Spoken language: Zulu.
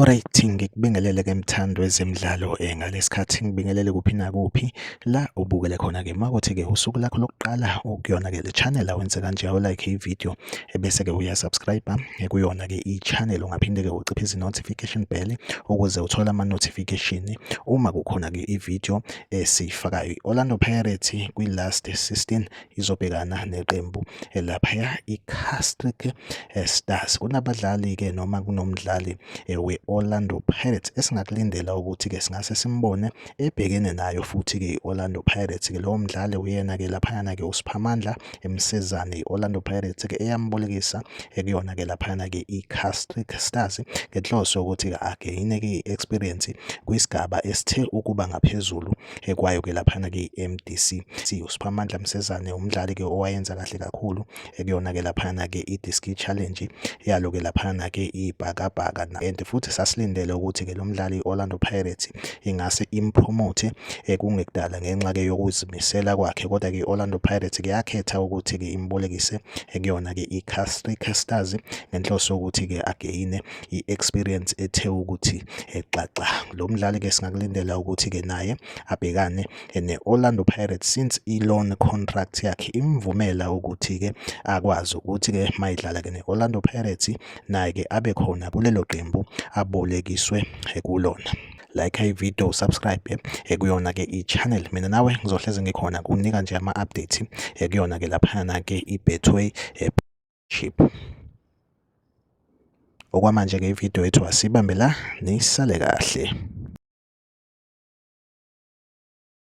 Alright ngikubingelele ke mthando wezemidlalo eh, ngalesikhathi ngibingelele kuphi nakuphi la ubukele khona ke makuthi ke usuku lakho lokuqala ukuyona ke le channel awenze kanje awu like i video ebese-ke uyasubscribe eh, kuyona-ke i-channel ungaphinde-ke uciphe izi-notification bell ukuze uthole ama-notification uma kukhona-ke i-video esiyifakayo i-orlando pirates kwi-last 16 izobhekana neqembu laphaya i-castric eh, stars kunabadlali-ke noma kunomdlali eh, we-orlando pirates esingakulindela ukuthi-ke singase simbone ebhekene nayo futhi-ke i-Orlando Pirates-ke lowo mdlali uyena-ke laphayana-ke uSiphamandla emsizane i-Orlando Pirates-ke eyambolekisa ekuyona-ke laphayana-ke i-Castle Stars ngenhloso yokuthi-ke ageyine-ke i-experience kwisigaba esithe ukuba ngaphezulu ekwayo-ke laphayana-ke i-MDC. USiphamandla Msizane umdlali-ke owayenza kahle kakhulu ekuyona ke laphana ke i-diski challenge yalo ke laphana ke ibhakabhaka and futhi sasilindele ukuthi ke lo mdlali i-Orlando Pirates ingase impromote eh, kungekudala ngenxa ke yokuzimisela kwakhe kodwa ke i-Orlando Pirates ke yakhetha ukuthi ke imbolekise ekuyona ke i-Castle Casters ngenhloso yokuthi ke ageyine i-experience ethe ukuthi exaxa eh, lo mdlali ke singakulindela ukuthi ke naye abhekane ne-Orlando Pirates since i-loan contract yakhe imvumela ukuthi-ke akwazi ukuthi-ke mayidlala-ke ne-Orlando Pirates naye-ke abe khona kulelo qembu abolekiswe kulona like ivideo subscribe eh, kuyona ke i-channel mina nawe ngizohleze ngikhona kunika nje ama-update eh, kuyona ke laphana ke i-betway eh, chip okwamanje ke ividiyo yethu asibambe la nisale kahle